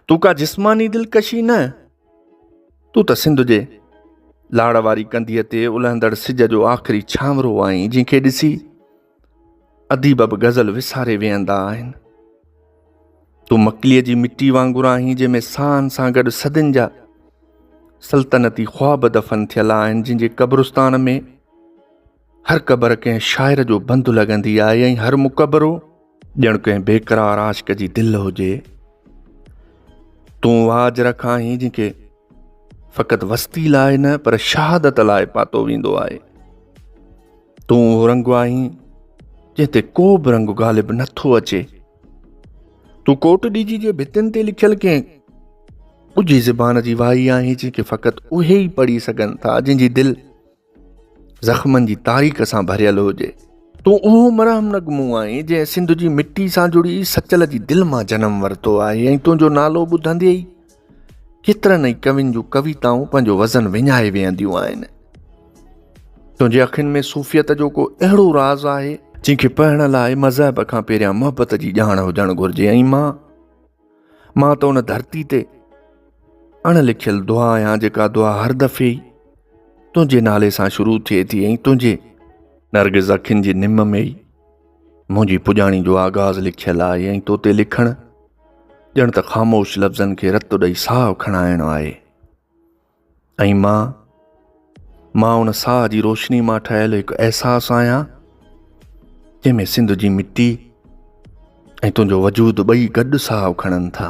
تون ڪا جسماني دلڪشي نه، تون ته سنڌ جي لاڙ واري ڪنڌيء تي الهندڙ سج جو آخري ڇانورو آهين، جنهن کي ڏسي اديب به غزل وساري ويهندا آهن. تون مڪليء جي مٽي وانگر آهين، جنهن ۾ ساهن سان گڏ صدين جا سلطنتي خواب دفن ٿيل آهن، جن جي قبرستان ۾ هر قبر ڪنهن شاعر جو بند لڳندي آهي ۽ هر مقبرو ڄڻ ڪنهن بيقرار عاشق جي دل هجي تون واج رک آهين جن کي فقط وستي لاء نه پر شهادت لاء پاتو ويندو آهي تون اهو رنگ آهين جنهن تي ڪو به رنگ غالب نٿو اچي تون ڪوٽ ڏيجي جي ڀتين تي لکيل ڪنهن ڳجهي زبان جي وائي آهي جنهن کي فقط اهي ئي پڙهي سگهن ٿا جن جي دل زخمن جي تاريخ سان ڀريل هجي. تون اهو مرهم نگ منهن آهين جنهن سنڌ جي مٽي سان جڙي سچل جي دل مان جنم ورتو آهي ۽ تنهنجو نالو ٻڌندي ئي ڪيترن ئي ڪوين جون ڪويتائون پنهنجو وزن وڃائي ويهنديون آهن. تنهنجي اکين ۾ صوفيت جو ڪو اهڙو راز آهي، جنهن کي پڙهڻ لاء مذهب کان پهريان محبت جي ڄاڻ هجڻ گهرجي ۽ مان مان ته ان ڌرتي تي اڻ لکيل دعا آهيان جيڪا دعا هر دفعي ئي تنهنجي نالي سان شروع ٿئي ٿي ۽ تنهنجي نرگز اکين جي نم ۾ ئي منهنجي پڄاڻي جو آغاز لکيل آهي ۽ تو تي لکڻ ڄڻ ته خاموش لفظن کي رت ڏئي ساهه کڻائڻ آهي ۽ مان مان ان ساهه جي روشني مان ٺهيل هڪ احساس آهيان جنهن ۾ سنڌ جي مٽي ۽ تنهنجو وجود ٻئي گڏ ساهه کڻن ٿا